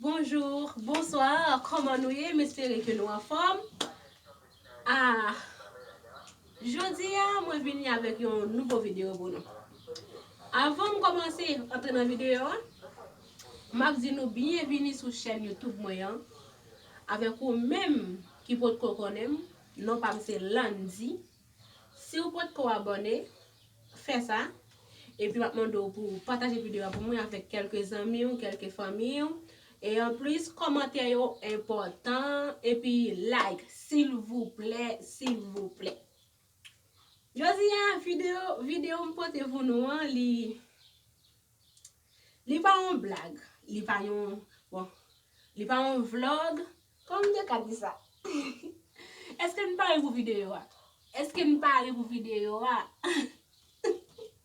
Bonjour, bonsoir, kòman nou ye? M espere ke nou anfòm. Ah, jodi a mwen vini avèk yon nouvo videyo pou nou. Avan m kòmanse antre nan videyo a, m ap di nou byenvini sou chèn YouTube mwen an. Avèk ou menm ki potko konnen m non pa m se Landy si w potko abòne fè sa epi m ap mande w pou w pataje videyo a pou mwen avèk kèlke zanmi w kèlke fanmi w e anplis kòmantè yo enpòtan epi like silvouplè silvouplè Jodi a videyo videyo m pote pou nou an li. Li pa yon blag, li pa yon, bon, li pa yon vlog, kòman m te ka di sa? Eske n pare pou videyo a? Eske n pare pou videyo a?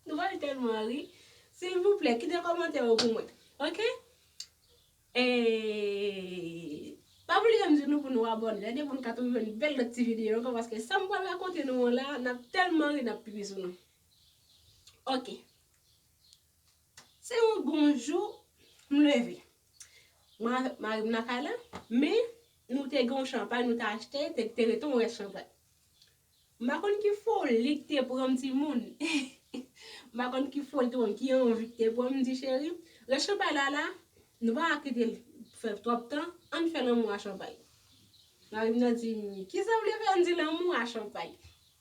Nou ba l tèlman ri. Silvouplè, kite kòmantè yo pou mwen. Ok? E, pa bliye m di nou pou nou abòne, èdè pou n ka toujou jwenn bèl lòt ti videyo ankò paske sa m pral rakonte nou an la, n ap tèlman ri n ap pipi sou nou. Ok. Se yon bon jou, m leve. Mwen avèk mari m nan kay la, men nou te gen yon chanpay nou te achte, te te rete yon rès chanpay. M pa konn ki foli k te pran m timoun. M pa konn ki foli k te pran m, ki anvi k te pran m, m di cheri, rès chanpay la la, nou pa ka kite l fè twòp tan, an n fè lanmou a chanpay. Mari m nan di m, kisa w vle fè an n di lanmou a chanpay?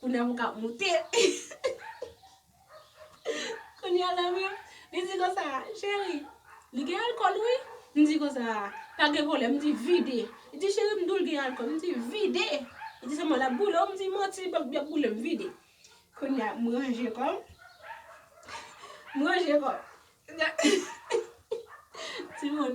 Kounya pou kap moute. Kounya la menm li di konsa cheri li gen alkòl wi m di konsa pa gen pwoblèm m di vide li di cheri m dou l gen alkòl m di vide li di sèlman lap boule w m di manti li pap boule m vide kounya m ranje kò m m ranje kò m timoun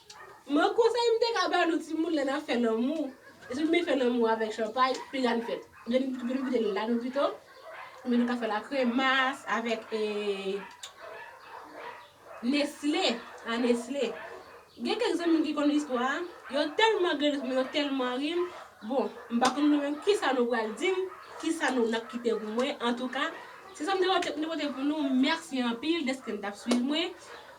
M'en konsèy m'te ka ba nou timoun lè n'ap fè lanmou, depi nou fin fè lanmou avèk chanpay, pi grann fèt. Gen nou ki mete l' ladan pito, oubyen nou ka fè l' a kremas avèk nesle, a nesle. Gen kèk zanmi ki konn istwa a, yo tèlman gade fim nan, yo tèlman ri, bon, m'pa konn nou menm kisa nou pral di m', kisa nou n'ap kite pou mwen, antouka, se sa m'te pote pou nou, mèsi anpil dèske nou t'ap swiv mwen.